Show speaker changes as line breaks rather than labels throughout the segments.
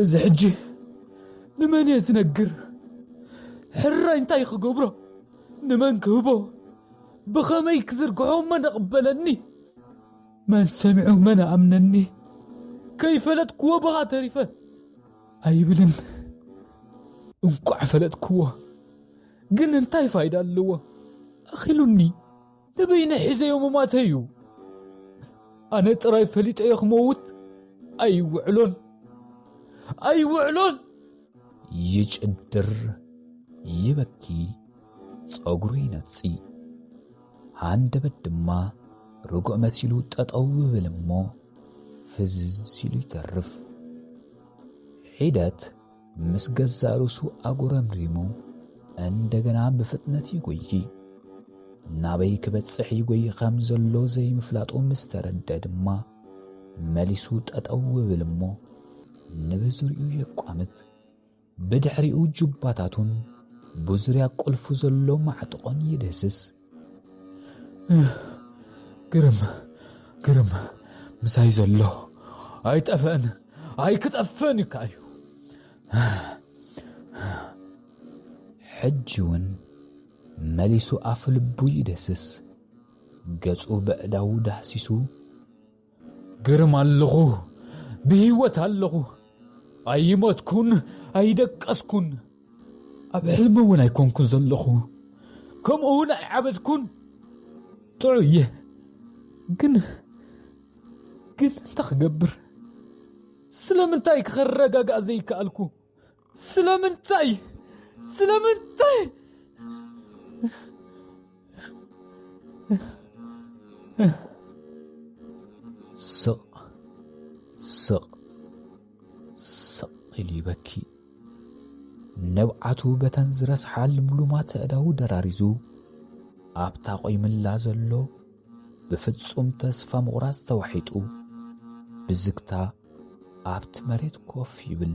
እዚ ሕጂ ንመን እየ ዝነግር ሕራይ እንታይ ክገብሮ ንመን ክህቦ ብኸመይ ክዝርግሖ መን እቕበለኒ መን ሰሚዑ መን ኣምነኒ ከይፈለጥክዎ ብኻ ተሪፈ ኣይብልን እንቋዕ ፈለጥክዎ ግን እንታይ ፋይዳ ኣለዎ ኣኺሉኒ ንበይነይ ሒዘዮ ምሟተይ እዩ። ኣነ ጥራይ ፈሊጠዮ ክመውት ኣይውዕሎን ኣይውዕሎን።
ይጭድር ይበኪ ጸጉሩ ይነጺ ሃንደበት ድማ ርጉእ መሲሉ ጠጠው ይብል እሞ ፍዝዝ ኢሉ ይተርፍ ሒደት ምስ ገዛእ ርእሱ ኣጉረምሪሙ እንደገና ብፍጥነት ይጎዪ። ናበይ ክበጽሕ ይጎዪ ከም ዘሎ ዘይምፍላጡ ምስ ተረደ ድማ መሊሱ ጠጠው ይብል እሞ ንብዙሪኡ የቋምት። ብድሕሪኡ ጁባታቱን ብዙርያ ቁልፉ ዘሎ ማዕጥቖን ይድህስስ። ግርም ግርም ምሳይ ዘሎ ኣይጠፍእን ኣይክጠፍእን እዩ ከኣዩ ሕጂ እውን መሊሱ ኣፍ ልቡ ይደስስ ገጹ በእዳዉ ዳህሲሱ
ግርም ኣለኹ ብህይወት ኣለኹ ኣይሞትኩን ኣይደቀስኩን ኣብ ሕልሚ እውን ኣይኮንኩን ዘለኹ ከምኡ እውን ኣይዓበድኩን ጥዑ እየ ግን ግን እንታይ ክገብር ስለምንታይ ክኸረጋጋእ ዘይከኣልኩ ስለምንታይ ስለምንታይ
ስቕ ስቕ ስቕ ኢሉ ይበኪ ንብዓቱ በተን ዝረስሓ ልምሉማት ኣእዳዉ ደራሪዙ ኣብታ ቈይምላ ዘሎ ብፍጹም ተስፋ ምቝራጽ ተዋሒጡ ብዝግታ ኣብቲ መሬት ኮፍ ይብል።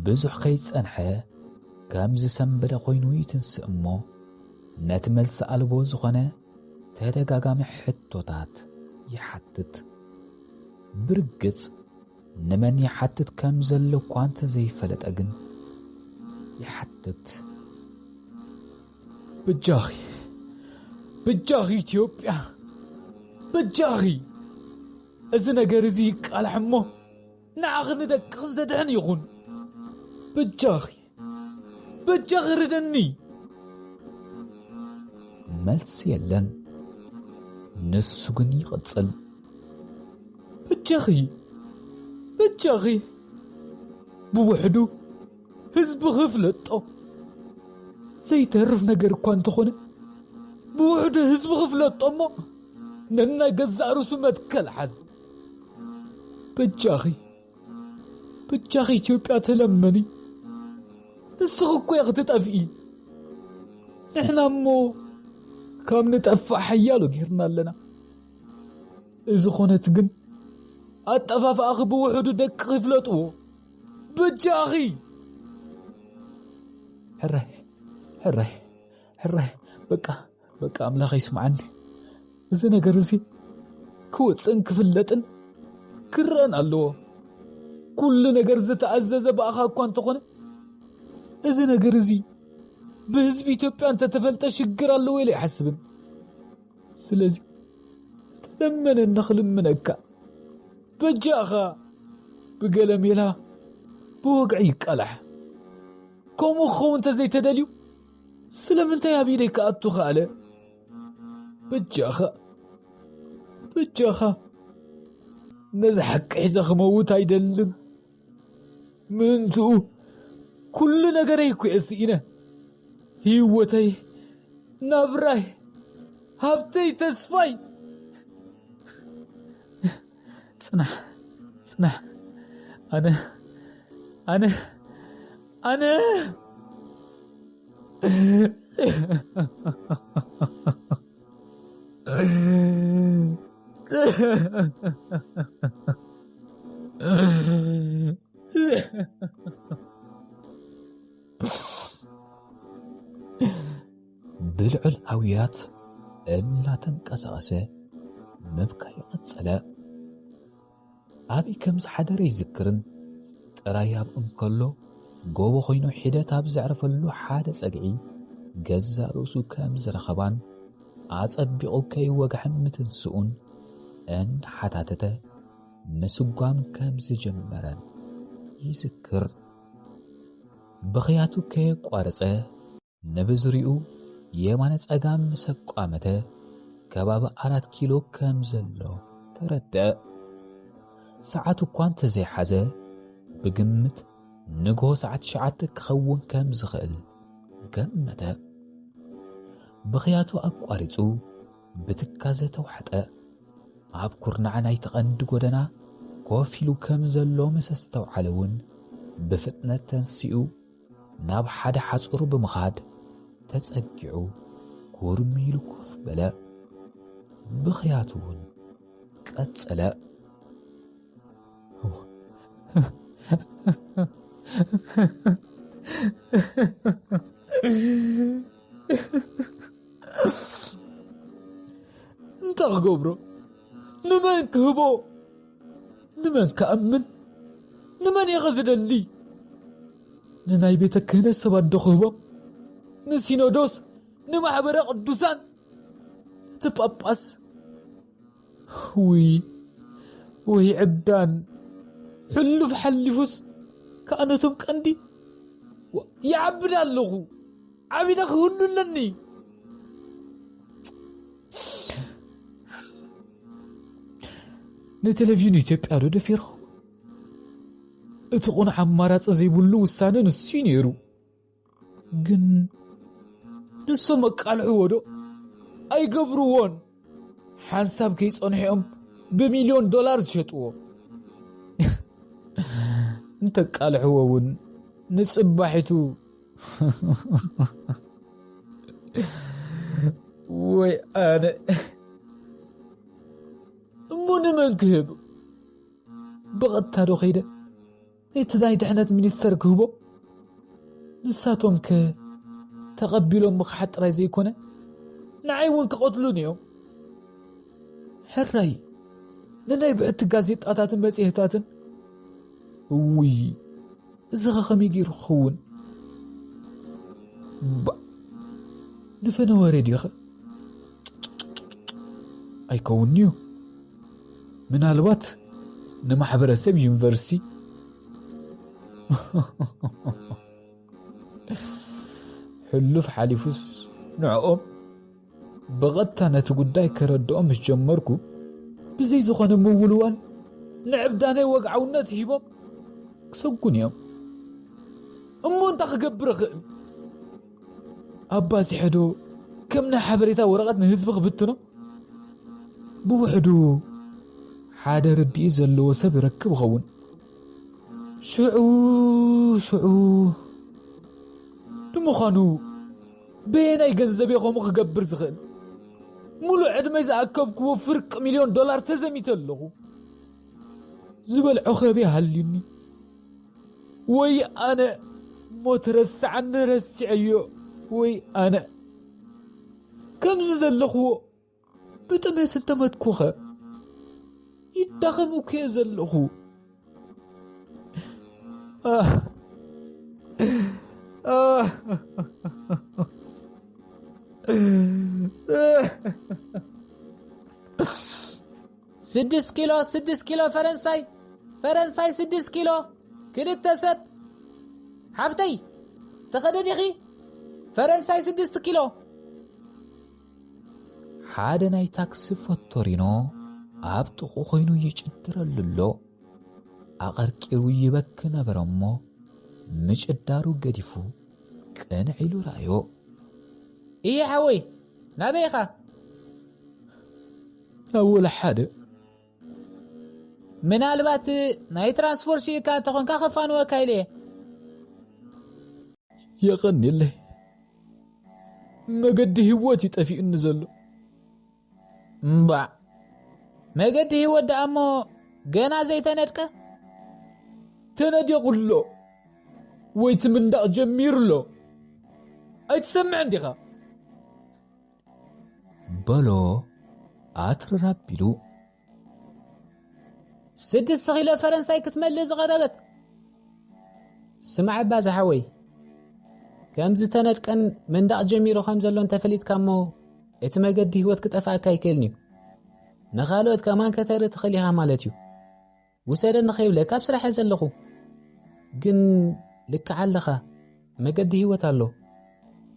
ብዙሕ ከይጸንሐ ከም ዝሰምበደ ኮይኑ ይትንስእ እሞ ነቲ መልሲ ኣልቦ ዝኾነ ተደጋጋሚ ሕቶታት ይሓትት። ብርግጽ ንመን ይሓትት ከም ዘሎ እኳ እንተዘይፈለጠ ግን ይሓትት። ብጃኺ ብጃኺ ኢትዮጵያ ብጃኺ እዚ ነገር እዚ ይቃላሕ እሞ ንዓኽን ንደቅኽን ዘድሕን ይኹን። በጃኺ በጃኺ ርደኒ። መልሲ የለን። ንሱ ግን ይቕጽል። በጃኺ
በጃኺ ብውሕዱ ህዝቢ ክፍለጦ ዘይተርፍ ነገር እኳ እንተኾነ ብውሕዱ ህዝቢ ክፍለጦ እሞ ነናይ ገዛእ ርእሱ መትከል ሓዝ በጃኺ በጃኺ ኢትዮጵያ ተለመኒ ንስኺ እኮ ክትጠፍኢ ንሕና እሞ ካብ ንጠፍእ ሓያሎ ጌርና ኣለና እዚ ኾነት ግን ኣጠፋፍኣኺ ብውሕዱ ደቂ ይፍለጥዎ በጃኺ ሕራይ ሕራይ ሕራይ በቃ በቃ ኣምላኸ ይስምዓኒ እዚ ነገር እዚ ክወፅእን ክፍለጥን ክረአን ኣለዎ ኩሉ ነገር ዝተኣዘዘ ብኣኻ እኳ እንተኾነ እዚ ነገር እዚ ብህዝቢ ኢትዮጵያ እንተተፈልጠ ሽግር ኣለዎ ኢለ ኣይሓስብን ስለዚ ተለመነኒ ክልምነካ በጃኻ ብገለ ሜላ ብወግዒ ይቃላሕ ከምኡ ክኸውን እንተዘይተደልዩ ስለምንታይ ኣብ ኢደይ ክኣቱ ኸኣለ በጃኻ በጃኻ ነዚ ሓቂ ሒዘ ክመውት ኣይደልን ምእንትኡ ኩሉ ነገረይ እኩየ ስኢነ ህይወተይ ናብራይ ሃብተይ ተስፋይ ፅናሕ ፅናሕ ኣነ ኣነ ኣነ ብልዑል ኣውያት እናተንቀሳቐሰ ምብካይ ቀጸለ። ኣብይ ከም ዝሓደረ ይዝክርን ጥራይ ኣብ እንከሎ ጎቦ ኮይኑ ሒደት ኣብ ዘዕረፈሉ ሓደ ጸግዒ ገዛእ ርእሱ ከም ዝረኸባን ኣጸቢቑ ከይወግሐን ምትንስኡን እናሓታተተ ምስጓም ከም ዝጀመረን ይዝክር። ብኽያቱ ከየቋረጸ ንብዙሪኡ የማነ ጸጋም ምስ ኣቋመተ ከባቢ ኣራት ኪሎ ከም ዘሎ ተረድኣ። ሰዓቱ እኳ እንተዘይሓዘ ብግምት ንግሆ ሰዓት ትሽዓተ ክኸውን ከም ዝኽእል ገመተ። ብኽያቱ ኣቋሪጹ ብትካዘ ተዋሕጠ። ኣብ ኩርናዕ ናይቲ ቀንዲ ጎደና ኮፍ ኢሉ ከም ዘሎ ምስ ኣስተውዓለ እውን ብፍጥነት ተንሲኡ ናብ ሓደ ሓጹር ብምኻድ ተጸጊዑ ኩርም ኢሉ ኮፍ በለ። ብኽያቱ እውን ቀጸለ። እንታይ ክገብሮ ንመን ክህቦ ንመን ክኣምን? ንመን ኢኸ ዝደሊ? ንናይ ቤተ ክህነት ሰባትዶ ክህቦም? ንሲኖዶስ? ንማኅበረ ቅዱሳን? ነቲ ጳጳስ? ውይ ወይ ዕብዳን! ሕሉፍ ሓሊፉስ ከኣ ነቶም ቀንዲ ይዓብድ ኣለኹ። ዓቢደ ክህሉ ኣለኒ ንቴሌቪዥን ኢትዮጵያ ዶ ደፊርኹም? እቲ ቁኑዕ ኣማራፂ ዘይብሉ ውሳነ ንሱ እዩ ነይሩ ግን ንሶም ኣቃልዕዎ ዶ ኣይገብርዎን ሓንሳብ ከይጸንሑ'ዮም ብሚልዮን ዶላር ዝሸጥዎ። እንተቃልሕዎ እውን ንጽባሒቱ ወይ ኣነ እሞ ንመን ክህብ ብቐጥታ ዶ ከይደ ነቲ ናይ ድሕነት ሚኒስተር ክህቦ፣ ንሳቶምከ ተቐቢሎም ምኽሓድ ጥራይ ዘይኮነ ንዓይ እውን ክቐትሉኒ እዮም። ሕራይ ንናይ ብሕቲ ጋዜጣታትን መጽሔታትን እውይ እዚ ኸ ከመይ ገይሩ ክኸውን ባ ንፈነወ ሬድዮ ኸ ኣይከውንዩ ምናልባት ንማሕበረሰብ ዩኒቨርሲቲ ሕሉፍ ሓሊፉስ ንዕኦም ብቐጥታ ነቲ ጉዳይ ከረድኦም ምስ ጀመርኩ ብዘይ ዝኾነ ምውልዋል ንዕብዳነይ ወግዓውነት ሂቦም ክሰጉን እዮም እሞ እንታይ ክገብር እኽእል ኣባጺሐዶ ከም ናይ ሓበሬታ ወረቐት ንህዝቢ ክብትኖ? ብውሕዱ ሓደ ርድኢት ዘለዎ ሰብ ይረክብ ይኸውን። ሽዑ ሽዑ ንምዃኑ በየናይ ገንዘብ እየ ከምኡ ክገብር ዝኽእል? ሙሉእ ዕድመይ ዝኣከብክዎ ፍርቂ ሚልዮን ዶላር ተዘሚተ ኣለኹ። ዝበልዖ ከብየ ሃልዩኒ። ወይ ኣነ ሞት ረስዓኒ ረሲዐዮ ወይ ኣነ ከምዚ ዘለኽዎ ብጥሜት እንተመትኩኸ ይዳኸም እኮ ዘለኹ
ስድስት ኪሎ ስድስት ኪሎ ፈረንሳይ ፈረንሳይ ስድስት ኪሎ ክልተ ሰብ ሓፍተይ ተኸደዲኺ ፈረንሳይ ስድስት ኪሎ
ሓደ ናይ ታክሲ ፎቶሪኖ ኣብ ጥቑ ኮይኑ ይጭድረሉ ኣሎ ኣቐርቂሩ ይበክ ነበረ እሞ ምጭዳሩ ገዲፉ ቅንዕ ኢሉ ረኣዮ
እየ ሓወይ ናበይኻ
ኣወል ሓደ
ምናልባት ናይ ትራንስፖርት ሲኢካ እንተኾንካ ከፋንወካ ኢለ እየ።
የቐኔለይ መገዲ ህይወት እዩ ጠፊኡኒ ዘሎ።
እምባዕ መገዲ ህይወት ደኣ እሞ ገና ዘይተነድቀ
ተነዲቑሎ ወይ ትምንዳቕ ጀሚሩሎ ኣይትሰምዕን ዲኻ?
በሎ ኣትርር ኣቢሉ።
ስድስት ኪሎ ፈረንሳይ ክትመልእ ዝቐረበት ስማዕ እባ ዝሓወይ ከም ዝተነድቀን መንዳቕ ጀሚሩ ከም ዘሎ እንተፈሊጥካ እሞ እቲ መገዲ ህይወት ክጠፍኣካ ኣይክእልን እዩ ንኻልኦት ከማን ከተርኢ ትኽእል ኢኻ ማለት እዩ ውሰደኒ ከይብለካ ኣብ ስራሕ እየ ዘለኹ ግን ልክዕ ኣለኻ መገዲ ህይወት ኣሎ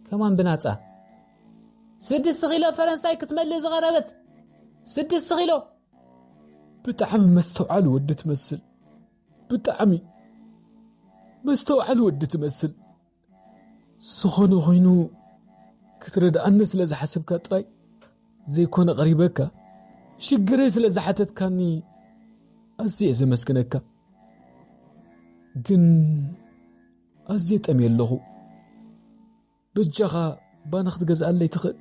ከማን ብናጻ ስድስት ኪሎ ፈረንሳይ ክትመልእ ዝቐረበት ስድስት ኪሎ
ብጣዕሚ መስተውዓሊ ወዲ ትመስል ብጣዕሚ መስተውዓሊ ወዲ ትመስል ዝኾነ ኾይኑ ክትረድኣኒ ስለ ዝሓሰብካ ጥራይ ዘይኮነ ቀሪበካ ሽግረይ ስለ ዝሓተትካኒ ኣዝየ ዘመስግነካ ግን ኣዝየ ጠምየ ኣለኹ በጃኻ ባኒ ክትገዝኣለይ ትኽእል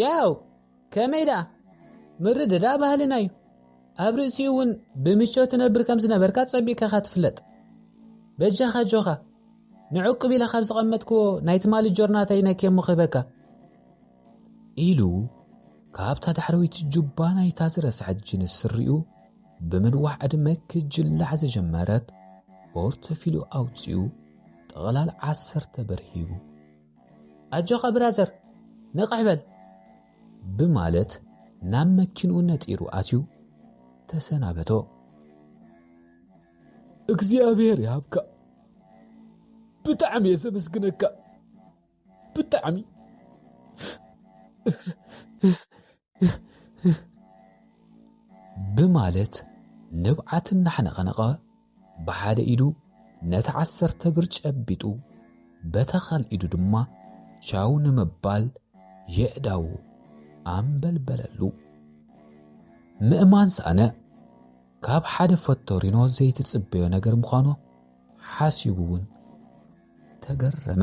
ያው ከመይ ደኣ ምርድዳእ ባህልና እዩ ኣብ ርእሲኡ እውን ብምቾት ትነብር ከም ዝነበርካ ጸቢቕካ ኢኻ ትፍለጥ በጃኻ ጆኻ ንዕቁብ ኢለ ካብ ዝቐመጥክዎ ናይ ትማሊ ጆርናተይ ነኬ እሞ ክህበካ
ኢሉ ካብታ ዳሕረወይቲ ጁባ ናይታ ዝረስዐት ጅንስ ስሪኡ ብምንዋሕ ዕድመ ክጅላዕ ዝጀመረት ፖርተፊልዮ ኣውጺኡ ጥቕላል ዓሰርተ ብር ሂቡ
ኣጆኻ ብራዘር ንቕሕ በል
ብማለት ናብ መኪንኡ ነጢሩ ኣትዩ ተሰናበቶ።
እግዚኣብሔር ይሃብካ ብጣዕሚ እየ ዘመስግነካ ብጣዕሚ
ብማለት ንብዓት እናሕነቐነቐ ብሓደ ኢዱ ነቲ ዓሰርተ ብር ጨቢጡ በታ ካልእ ኢዱ ድማ ቻው ንምባል የእዳዉ ኣንበልበለሉ። ምእማን ሰኣነ። ካብ ሓደ ፈቶሪኖ ዘይትጽበዮ ነገር ምዃኑ ሓሲቡ'ውን ተገረመ።